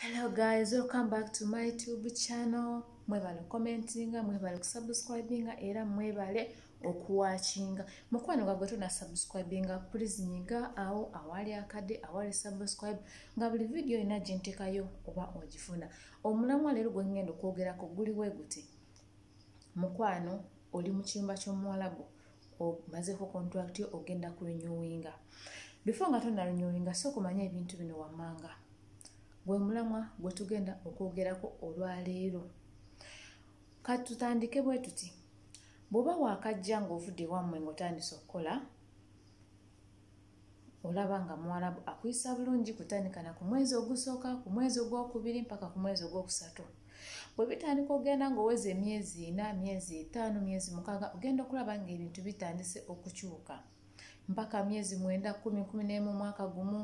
hello guys welcome back to my tube channel mwebale commentinga mwebale kusubscribinga era mwebale okuwakinga mukwano gwagwe tuna subscribinga please nyiga awo awali akade awali subscribe nga buli vidiyo yina gyentekayo oba ogifuna omulamwa leero gwengenda okwogerako guli wegute mukwano oli mukiyumba kyomuwalabu omazeko contract yo ogenda ku renewinga before nga tonna renewinga so kumanya ebintu bino wammanga gwe mulamwa gwe tugenda okwogerako olwaleero kati tutandike bwe tuti bw'oba waakajja ng'ovudde wammwe ng'otandise okukola olaba nga muwarabu akuyisa bulungi kutandika na ku mwezi ogusooka ku mwezi ogwokubiri mpaka ku mwezi ogwokusatu bwe bitandika okugenda ngaoweza emyezi ina myezi etaano myezi mukaaga ogenda okulaba ngaebintu bitandise okukyuka mpaka myezi mwenda kumi kumi nemu omwaka gumu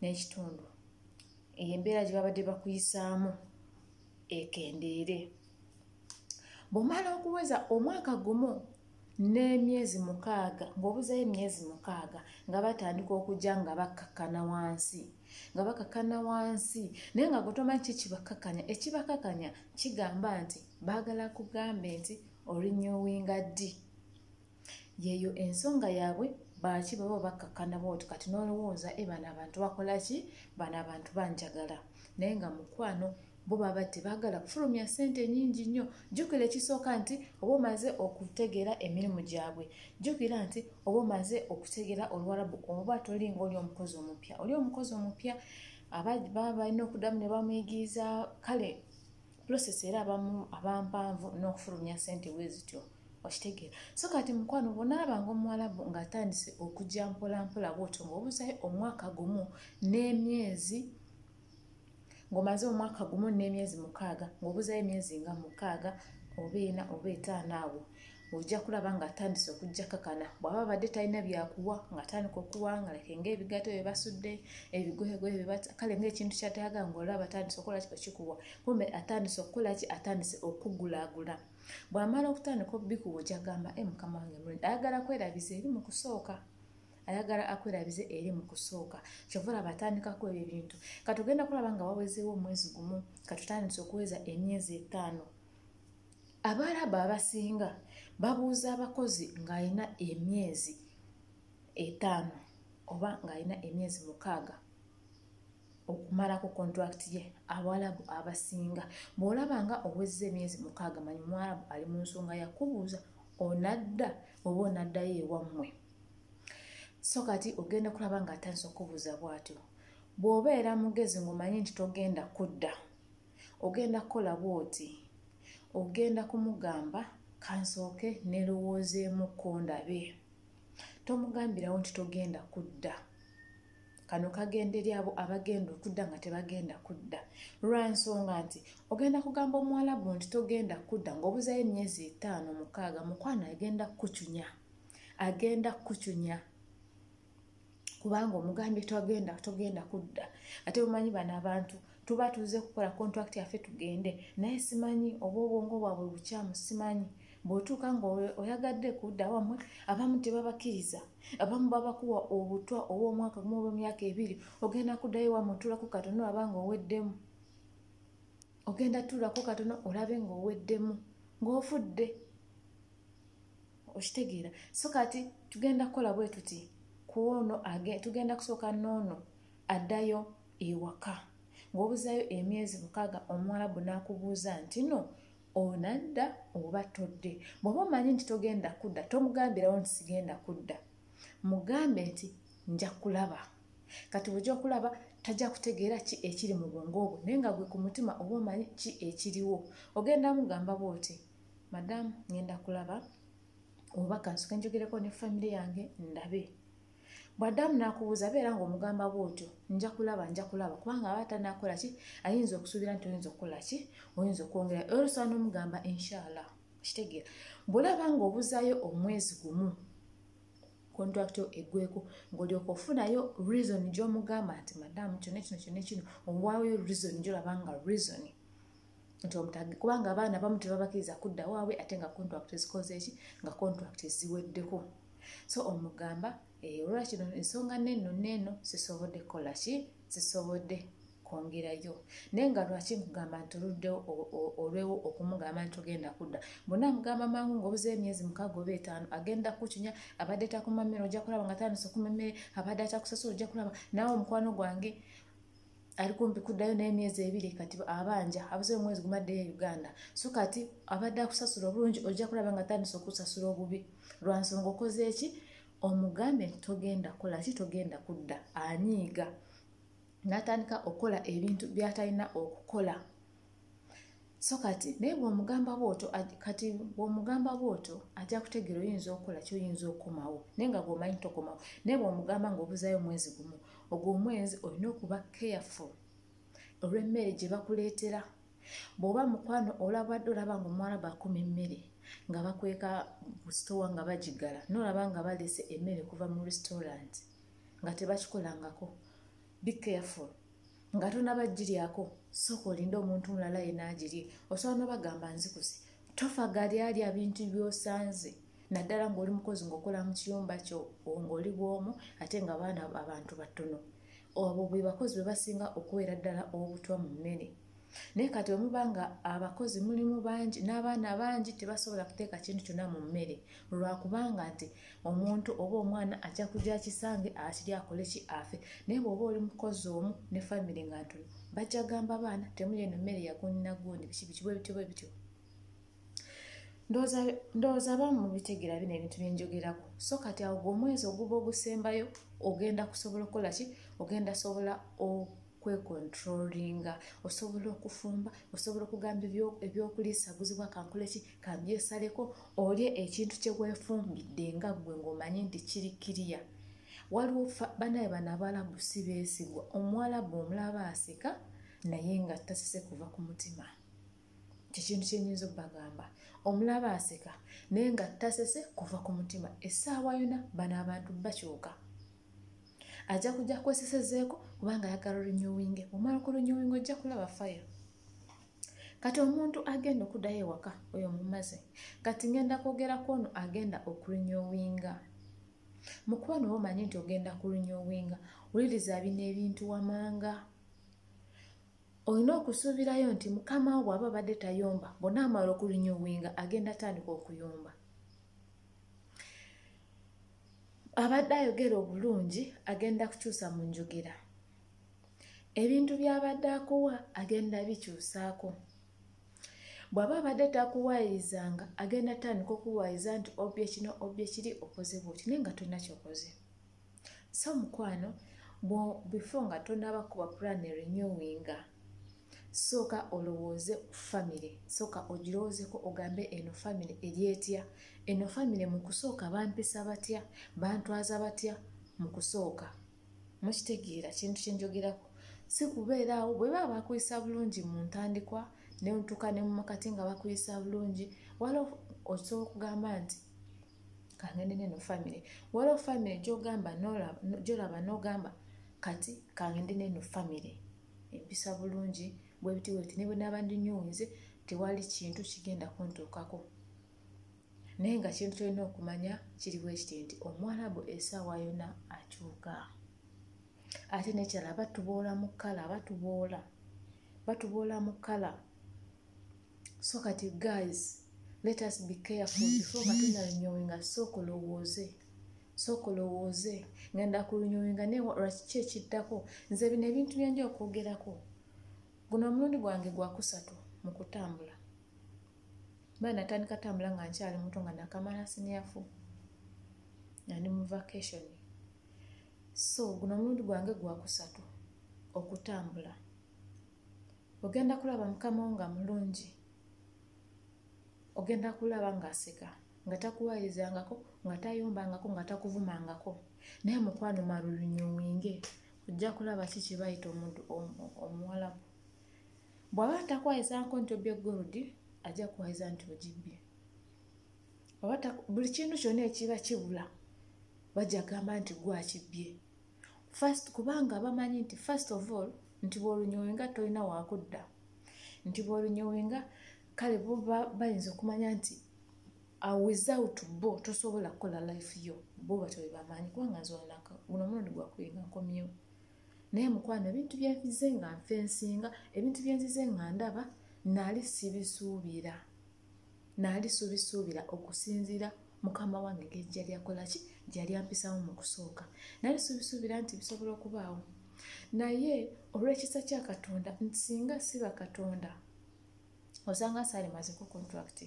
n'ekitundu eyo embeera gye babadde bakuyisaamu ekendeere bwomala okuweza omwaka gumu n'emyezi mukaaga ng'obuzayo emyezi mukaaga nga batandika okujja nga bakkakkana wansi nga bakakana wansi naye nga gwetomany ki kibakakanya ekibakakanya kigamba nti baagala kugambe nti orinyowinga ddi yeeyo ensonga yaabwe baaki baba bakkakkana bwoti kati n'olowooza e bano abantu bakola ki bano abantu banjagala naye nga mukwano bo baba tebaagala kufulumya ssente nyingi nnyo jjukira ekisooka nti oba omaze okutegeera emirimu gyabwe jjukira nti oba omaze okutegeera oluwalabu oba tolinga oli omukozi omupya oli omukozi omupya ababa balina okuddamu ne bamuyigiriza kale pulosesi era abampanvu n'okufulumya ssente bwe zityo okitegeera so kati mukwano bwonaabanga omuwalabu ngaatandise okujja mpolampola bwotyo ngaobuzayo omwaka gumu n'emyezi ng'omaze omwaka gumu n'emyezi mukaaga ng'obuzayo emyezi nga mukaaga oba ena oba etaano awo ojja kulaba ng'atandise okujja kakana bw'aba badde talina byakuwa ng'atandika okuwa nga leke ng'ebigato bye basudde ebigoyegoye bye bata kale ng'ekintu kyataaga ng'olaba atandise okukola kiko kikuwa kumbe atandise okukola ki atandise okugulaagula bw'amala okutandika obikuwa ojja gamba e mukama wange mulungi ayagala kwerabiza eri mu kusooka ayagala akwerabize eri mu kusooka kyova olaba atandikako ebyo ebintu katugenda kulaba nga wawezeewo omwezi gumu katutandise okuweza emyezi etaano abaaraba abasinga babuuza abakozi ng'alina emyezi etaano oba ng'alina emyezi mukaaga okumala ku contract ye abawalabu abasinga bw'olaba nga owezza emyezi mukaaga manyi muwalabu ali mu nsonga yakubuuza onadda oba onaddayo ewammwe so kati ogenda kulaba nga atandisa okubuuza bw'atyo bw'obeera mugezi ng'omanyi nti togenda kudda ogenda kukola bw'oti ogenda kumugamba kansooke nerowoozeemu kondabe tomugambirawo nti togenda kudda kano kagenda eri abo abagenda okudda nga tebagenda kudda lwansonga nti ogenda kugamba omuwalabu nti togenda kudda ngaobuzayo emyezi etaano mukaaga mukwano agenda kukucunya agenda kukucunya kubanga omugambye togenda togenda kudda ate bumanyi bano abantu tuba tuze kukola contract yaffe tugende naye simanyi oba obwongo bwabwe bukyamu simanyi bwotuuka nga oyagadde kudda wamwe abamu tebabakkiriza abamu babakuwa obutwa obwomwaka gumu obwemyaka ebiri ogenda kuddayo wamwe otuulako katono olaba nga oweddemu ogenda tuulako katono olabe nga oweddemu ngaofudde okitegeera so kati tugenda kukola bwe tuti kwono tugenda kusooka noono addayo ewaka ngaobuzayo emyezi mukaaga omuwalabu n'akubuuza nti no onadda oba todde bwoba omanyi nti togenda kudda tomugambirawo nti sigenda kudda mugambe nti nja kulaba kati bwojja okulaba tajja kutegeera ki ekiri mu bwongo obwo naye nga gwe ku mutima oba omanyi ki ekiriwo ogenda mugamba bwoti madamu ngenda kulaba oba kansoke njogereko ne famire yange ndabe bw'addamu n'akubuuza beera ng'omugamba bw'otyo nja kulaba nja kulaba kubanga aba tanakola ki ayinza okusuubira nti oyinza okukola ki oyinza okwongera era osobola n'omugamba inshaallah kitegeera bw'olaba ng'obuzaayo omwezi gumu kontrakiti eggweko ng'olyoka ofunayo reason gy'omugamba nti madamu kyona kino kyona kino owaayo reason gyolaba nga reason nti omutage kubanga abaana bamu tebabakiriza kudda waabwe ate nga kontrakiti zikoze eki nga kontrakiti ziweddeko so omugamba eh, olwakino ensonga neno neeno sisobodde kukola ki sisobodde kwongerayo naye nga lwaki nkugamba nti oluddewo olwewo okumugamba nti ogenda kudda mbona amugamba mangu ngaobuzeyo emyezi mukaaga oba etaano agenda kukinya abadde takumamira ojja kulaba nga tandisa okumamere abadde atakusasula ojja kulaba naawe omukwano gwange ali kumpi kuddayo naye emyezi ebiri kati abanja abuze omwezi gumaddeyo e uganda so kati abadde akusasula obulungi ojja kulaba nga atandisa okusasula obubi lwa nsonga okoze eki omugambe nti togenda kukola ki togenda kudda anyiiga n'atandika okukola ebintu by'atalina okukola so kati naye bwomugamba bwoto kati bwomugamba bwoto ajja kutegeera oyinza okukola kyoyinza okukomawo naye nga gwomanyi tokomawo naye bwomugamba ngaobuzayo omwezi gumu ogwo omwezi olina okuba careful olwemmere gye bakuleetera bw'oba mukwano olabadde olaba nga omuwala bakuma emmere nga bakweka busitowa nga bagiggala nolaba nga balese emmere kuva mu restaurant nga tebakikolangako be careful nga tonaba giryako sooka olinde omuntu mulala yena agirye osobola nobagamba nzikuse tofa gali alya bintu byosanze naddala ngaoli mukozi ngaokola mu kiyumba kyo ngaoli bwomu ate nga baana abantu batono obwo bwebakozi bwebasinga okubeera ddala obutwa mu mmene naye kati wemuba nga abakozi mulimu bangi n'abaana bangi tebasobola kuteeka kintu kyonna mu mmere lwakubanga nti omuntu oba omwana ajja kujja kisange akiri akole ki afe naye bweoba oli mukozi omu ne famiry nga ntono bajja gamba baana temuli eno mmere yagunnagundi biki biki bwebityo bwebityo ndowooza abamu mubitegera bino ebintu byenjogerako so kati awo gwe omwezi oguba ogusembayo ogenda kusobola okukola ki ogenda sobola okwekontrolinga osobola okufumba osobola okugamba ebyokulisa guzibwa kankoleki kambyesaleko olye ekintu kyewefumbidde nga gwe ngaomanyi nti kiri kiriya waliwo banaye bano abalabu si beesigwa omuwalabu omulaba aseka naye nga tasise kuva ku mutima kyekintu kyenyinza okubagamba omulaba aseka naye nga tasese kuva ku mutima essaawa yona bano abantu bakyuka ajja kujja kwesesezeeko kubanga ayagala olunyowinge omala ku lunyowinge ojja kulaba fire kati omuntu agenda okudayo ewaka oyo mumaze kati ngenda kwogera kwono agenda okulunyowinga mukuba noba omanyi nti ogenda kulunyowinga wuliriza bino ebintu wamanga olina okusuubirayo nti mukama wo bw'aba badde tayomba bona amala okulinyuwinga agenda atandika okuyomba abadde ayogera obulungi agenda kukyusa mu njogera ebintu by'abadde akuwa agenda bikyusaako bw'aba abadde takuwaayirizanga agenda atandika okuwaayiza nti obye kino obye kiri okoze bwoti naye nga tolina kyokoze so mukwano before nga tonaba kuba plan renewinga sooka olowooze ku famire sooka ogirowoozeko ogambe eno famire eri etya eno famire mu kusooka bampisa batya bantwaza batya mu kusooka mukitegeera kintu kyenjogerako si kubeeraawo bwe baba bakuyisa bulungi mu ntandikwa nentuka ne mumakati nga bakuyisa bulungi waliwo osobola okugamba nti kangende neno family waliwo family gyogamba gyolaba nogamba kati kangende neno family empisa bulungi bwebitiweti nebwenaba ndinyunze tewali kintu kigenda kuntuukako naye nga kintu kyolina okumanya kiriwo ekiti nti omuwalabu esaawa yona akyuka ate nekyala batuboola mu kkala batuboola batuboola mu kkala so kati guys let us be careful before nga tunalunyowinga sooka olowooze sooka olowooze ngenda kulunyowinga naye lwaki ki ekiddako nze bino ebintu byenja okwogerako guno omulundi gwange gwakusatu mu kutambula baa natandika tambula nga nkyali muto nga nakamala siniafu nandi mu vacation so guno omulundi gwange gwakusatu okutambula ogenda kulaba mukama wo nga mulungi ogenda kulaba ng'aseka nga takuwayizangako nga tayombangako nga takuvumangako naye mukwano malulunyuwinge ojja kulaba ki kibayita omuntu omuwalabu bw'aba atakwayizanko nti obye goludi ajja kuwayiza nti ogibbye buli kintu kyonna ekiba kibula bajja kugamba nti gwakibbye first kubanga bamanyi nti first of all nti bwolunyowenga tolina wakudda nti bwolunyowenga kale bo bayinza okumanya nti uh, without bo tosobola kukola life yo bo batyo bebamanyi kubanga nze olunaka guno omulundi gwakubinga nkomyewo naye mukwano ebintu byenzize nga nfensinga ebintu byenzize nga ndaba naali sibisuubira naali subisuubira okusinziira mukama wange ngeri gyali akolaki gyali ampisawo mu kusooka naali subisuubira nti bisobola okubaawo naye olw'ekisa kya katonda nti singa siba katonda osanga saali maziko contract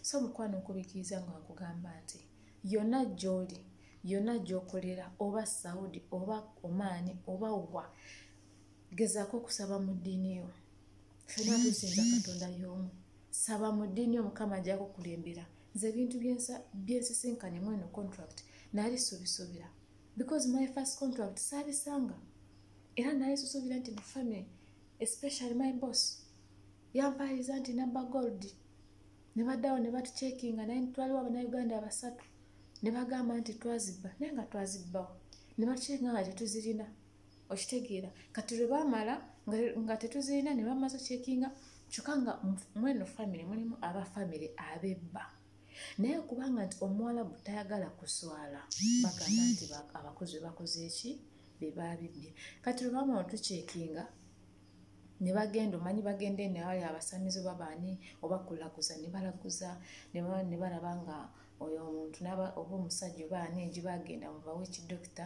so mukwano nkubikiriza nga nkugamba nti yonna gy'oli yonna gy'okolera oba saudi oba omaani oba wa gezaako okusaba mu ddiini yo fena tusinza katonda yomu saba mu ddiini omukama ajja kukulembera nze ebintu byensisinkanye mu eno contract naali subisuubira because my first contract saabisanga era naye susuubira nti ne family especially my boss yampaaliza nti nabba gold ne baddawo ne batucekinga naye twaliwo abanauganda abasatu ne bagamba nti twazibba naye nga twazibbawo ne batucekinga nga tetuzirina okitegeera kati lwe baamala nga tetuzirina ne bamaze okyekinga kyokka nga mweno famiry mulimu aba famiry abebba naye kubanga nti omuwalabu tayagala kuswala bagamba nti abakozi bebakoze eki bebabibbye kati lwe baamala otukyekinga ne bagenda omanyi bagenda eno awali abasamizi oba baani oba kulaguza ne balaguza ne balaba nga oyo omuntu oba omusajja oba ani egiba agenda mubawa ekidokita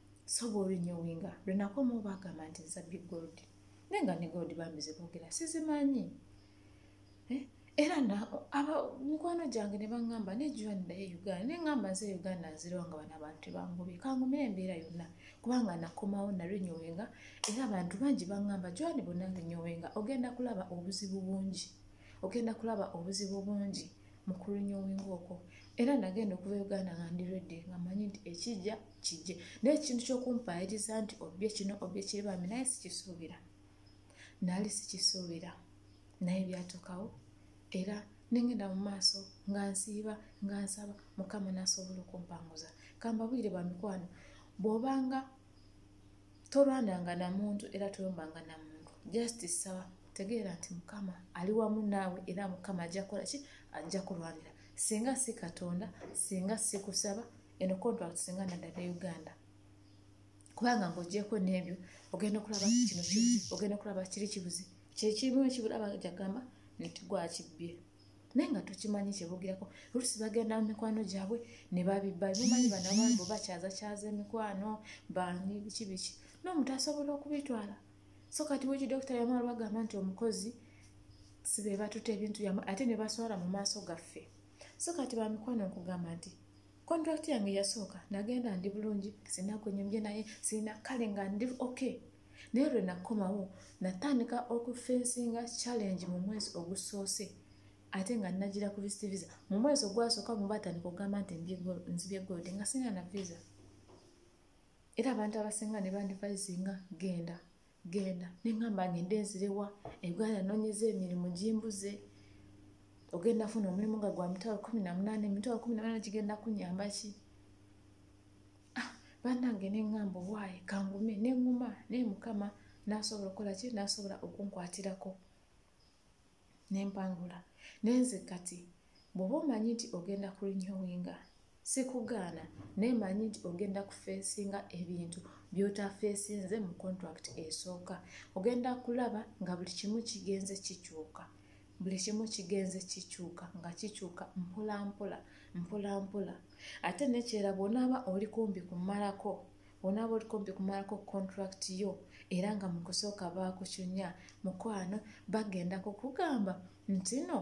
so bwolinyowinga lwenakoma obagamba nti nza big gold naye nga ne gold bambi zebogera sizimanyi eh? era mikwano gyange ne baŋŋamba nejjuwa ndaye uganda ne ŋŋamba nze uganda nzirawo nga bana abantu bangobi kangumira embeera yonna kubanga nakomawo nalinyowenga era abantu bangi baŋŋamba jwani bonna linyowenga ogenda kulaba obuzibu bungi ogenda kulaba obuzibu bungi mu kulinyowenga okwo era nagenda okuva uganda nga ndi redde nga manyi nti ekijja kijje naye ekintu kyokumpaayiriza nti obye kino obye kiri bambi naye sikisuubira naali sikisuubira naye byatuukawo era nengenda mu maaso nga nsiiba nga nsaba mukama nasobola okumpanguza kambabwire ba mikwano bwobanga tolwananga na muntu era toyombanga na muntu just saba tegeera nti mukama ali wamu naawe era mukama ajja kukola ki ajja kulwanira singa si katonda singa sikusaba eno contract singa nadada e uganda kubanga ngaogyeko nebyo ogenda okulaba kino kibuzi ogenda okulaba kiri kibuzi kyekimu ekibula bajagamba nti gwakibbye naye nga tukimanyi kyebogirako olusi bagenda mu mikwano gyabwe ne babibba bimanyi banabambo bakyazakyaza emikwano bani biki biki nomuntu asobola okubitwala so kati weki dokita yamala bagamba nti omukozi sibe batuta ebintu yamwe ate ne baswala mu maaso gaffe so kati bamikwano nkugamba nti contract yange yasooka nagenda ndi bulungi sina kwenyumye naye sirina kale nga ndi ok naye lwe nakomawo natandika okufensinga challenge mu mwezi ogusoose ate nga nagira ku visit visa mu mwezi ogwasooka mu batandika okugamba nti nzibye gold nga sina na visa era abantu abasinga ne bandivayizinga genda genda neŋamba ngende nzirewa ebuganda nonyeza emirimu gimbuze ogenda funa omulimu nga gwa mitwalo kumi na munaana emitwalo kumi na munaana gigenda kunyamba ki ah, banange neŋamba obwayi kangume neŋuma naye mukama nasobola okukola ki nasobola okunkwatirako nempangula nenze kati bwoba omanyi nti ogenda kulinyowinga sikugaana naye manyi nti ogenda kufeesinga ebintu byotafeesinze mu contract esooka ogenda kulaba nga buli kimu kigenze kikyuka buli kimu kigenze kikyuka nga kikyuka mpolampola mpolampola ate nekyera bwonaaba oli kumbi kumalako onaaba oli kumpi kumalako contract yo era nga mu kusooka baakucunya mukwano bagenda kukugamba nti no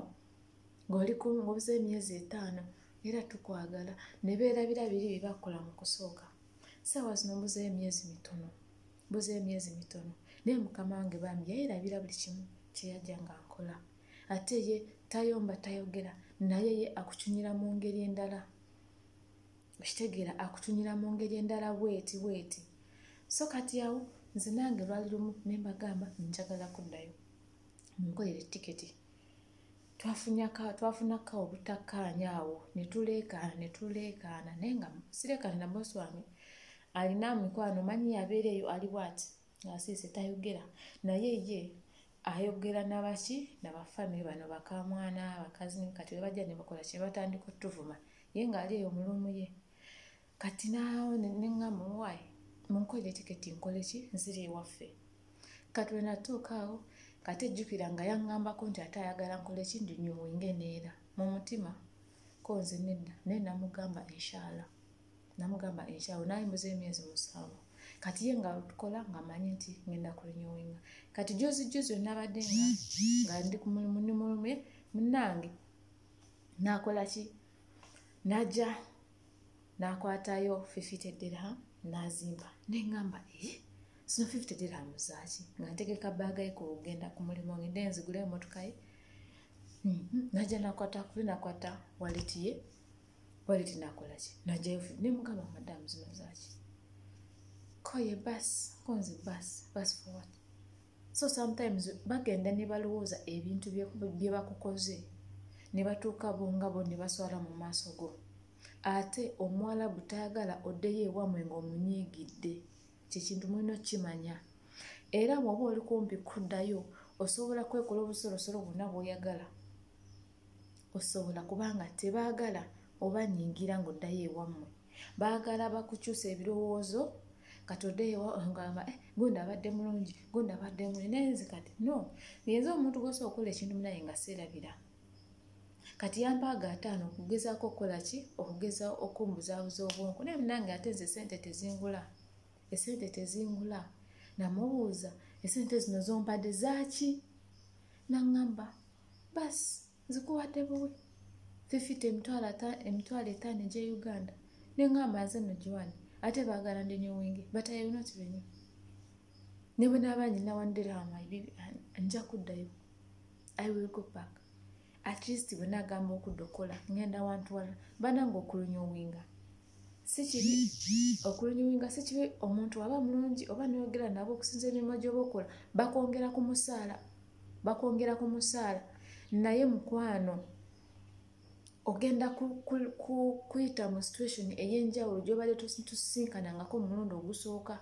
ng'oliobuze emyezi etaano era tukwagala ne beerabira biri bye bakola mu kusooka saawa zino mbuze emyezi mitono mbuze emyezi mitono naye mukama wange bambi yayerabira buli kimu kye yajja nga nkola ate ye tayomba tayogera naye ye akucunyira mu ngeri endala okitegeera akutunira mu ngeri endala bweti bweti so kati awo nze nange lwali lumu ne mbagamba njagala kuddayo munkolere tiketi twafunako obutakkaanya awo ne tuleekaana ne tuleekaana naye nga sireekaana na bosi wange alina mikwano manyi yabeera eyo ali bwati ngasiise tayogera naye ye ayogera nabaki nabafamiry bano bakamwana bakazini kati webajja nebakola kyebatandika otuvuma ye ng'ali eyo mu luumu ye kati naawo neŋŋa muwayi munkolere tiketi nkole ki nziri ewaffe kati lwe natuuka awo kati ejjukira nga yaŋŋambako nti ate ayagala nkole ki ndinyuwinge neera mu mutima ko nze nedda naye namugamba inshallah namugamba inshallah naye mbuza emyezi musanvu kati ye nga tukola nga manyi nti ngenda kulinyowinga kati jozi jozi onabadde nga nga ndi kumulumuni mulumu ye munange nakolaki naja nakwatayo fifite dirham nazimba nengamba ee eh, sino fifite dirham zaki nga ntegeka bagaye kugenda ku mulimu ngende nzigule emotokaye mhm. naja nakwata kuli nakwata walitiye waliti nakolaki najayo nemugamba madamu zino zaki koye bas konze bas bas for what so sometimes bagenda ne balowooza ebintu bye bakukoze ne batuuka bo nga bo ne baswala mu maaso go ate omuwalabu tayagala oddeyo ewamwe ng'omunyiigidde kyekintu mulina okukimanya era bw'oba oli kumpi kuddayo osobola kwekola obusolosolo bwonna bw'oyagala osobola kubanga tebaagala oba nyingira ng'oddayo ewammwe baagala bakukyusa ebirowoozo kati oddeyo ngamba eh, gundi abadde mulungi gundi abadde muli naye nze kati no ngenze omuntu gwosa okukola ekintu munaye nga seerabira kati yampaaga ataano okugezaako okukola ki okugeza okumbuzaabuza obwonku naye munange ate nze esente tezingula esente tezingula namubuuza esente zino zompadde zaaki naŋŋamba basi nzikuwadde buwi fifita emitwalo emitwalo etaano egye uganda nengamba nze no giwani ate bagala ndi nyowingi but i will not renew ne bwe naaba nyina wandirama nja kuddayo i will go back at least bwe nagamba okudda okukola ngenda wantu wala bananga okulunyowinga sikibi okulunyowinga sikibi omuntu waba mulungi oba noyogera nabo okusinza emirimu gyoba okola bakwongera ku musaala bakwongera ku musaala naye mukwano ogenda kuyita mu situation ey'enjawulo gyobadde tusisinkanangako omulundi ogusooka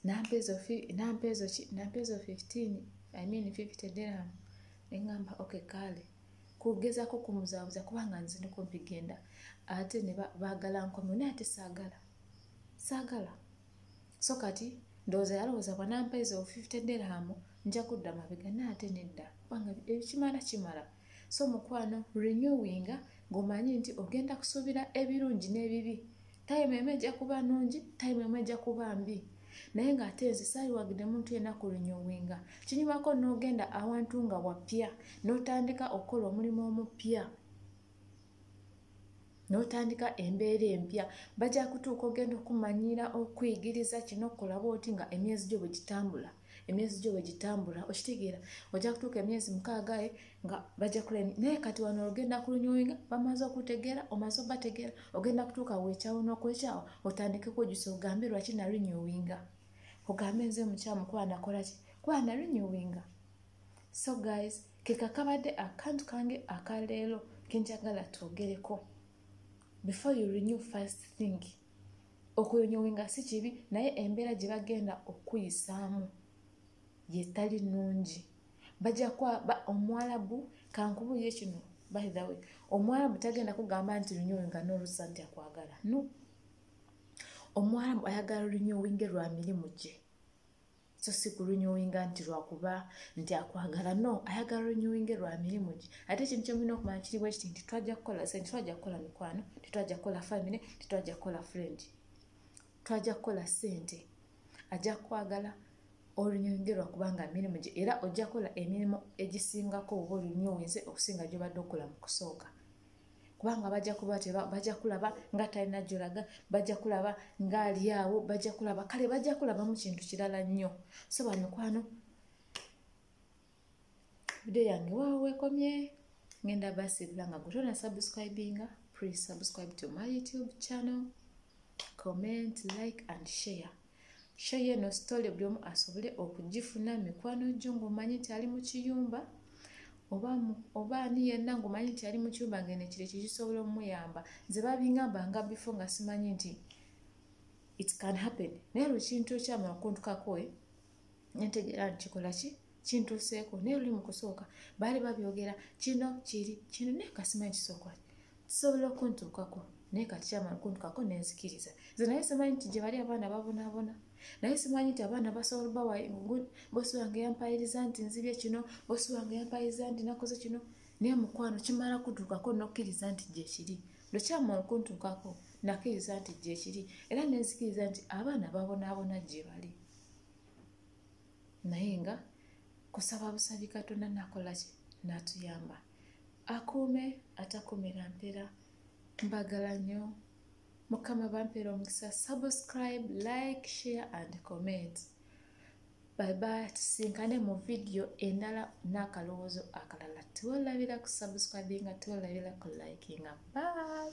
nampeezo 15 i mean 50 dirham neŋamba ok kaale kugezako kumuzabuza kubanga nziniko mpigenda ate ne bagala nkomyo naye ate saagala saagala so kati ndowooza yalowooza bwanampa ezo 50 dirham nja kudda mabega naye ate nedda kubanga ekimala kimala so mukwano renewinga ng'omanyi nti ogenda kusuubira ebirungi n'ebibi tayimu emu ejja kuba nungi tayimu emu ejja kuba mbi naye ng'ate nze saaliwagidde muntu yena ku renewinga kinyumako n'ogenda awantu nga wapya n'otandika okukola omulimu omupya n'otandika embeera empya bajja kutuuka ogenda okumanyira okuyigiriza kino okulaba oti nga emyezi gyo bwe gitambula emyezi gyo bwe gitambula okitegeera ojja kutuuka emyezi mukaagae eh, nga bajja kula naye kati wano ogenda kulunyoinga bamaze okutegeera omaze obategeera ogenda kutuuka weekyawo n'okwekyawo otandike kujjusa ogambe lwaki nalunyowinga ogambe nze mukyamukuba nakola ki kuba nalunyowinga so guys kekakabadde akantu kange akaleero kenjagala twogereko before you renew first thing okuyonyowe nga si kibi naye embeera gye bagenda okuyisaamu yetali nungi bajja kwa omwalabu kankubuye kino by the way omwalabu tagenda kugamba nti renyowe nga nolusa nti akwagala no omwalabu ayagala renyowe nge lwa mirimu gye so si ku renewinga nti lwakuba nti akwagala no ayagala renewinge lwa mirimu gye ate ekintu kyemulina okumanya kiri bwekiti nti twajja kukola sente twajja kukola mikwano tetwajja kukola famine tetwajja kukola friend twajja kukola sente ajja kukwagala olunyonge lwakubanga mirimu gye era ojja kukola emirimu egisingako oba olunyowinze okusinga gyobadde okola mu kusooka kubanga bajja kuba bajja kulaba nga talina gyolaga bajja kulaba nga ali awo bajja kulaba kale bajja kulabamu kintu kirala nnyo so bamikwano vidiyo yange waawo wekomye ngenda basiibula nga gutona subscribinga pre subscribe to my youtube channel comment like and share share eno story buli omu asobole okugifuna mikwano gyo ng'omanyi nti ali mu kiyumba oba ani yenna ng'omanyi nti ali mu kiyumba ng'eno ekiro ekyo kisobola omuyamba nze babingamba nga bifo nga simanyi nti it can happen naye lwekintu ekyamala okuntukakoe eh? netegeera nti kikola ki kintuuseeko naye luli mu kusooka baali babyogera kino kiri kino naye kasimanyi kisooka kisobola okuntuukako naye kakyama kuntukako nenzikiriza nze naye simanyi nti gye bali abaana babonaabona naye simanyi nti abaana basobola bawa bosi wange yampayiriza nti nzibye kino bosi wange yampayiriza nti nakoze kino naye mukwano kimala kutuukako nokkiriza nti gyekiri lwekyama okuntuukako nakkiriza nti gyekiri era nenzikiriza nti abaana babonaabona gye bali naye nga kusaba busabi katonda nakolaki natuyamba akuume atakumira mpera mbagala nnyo mukama bampera omukisa subscribe like share and comment baibai tusinkane mu vidiyo endala n'akalowoozo akalala tiwelabira ku subscribinga tiwelabira ku likinga bye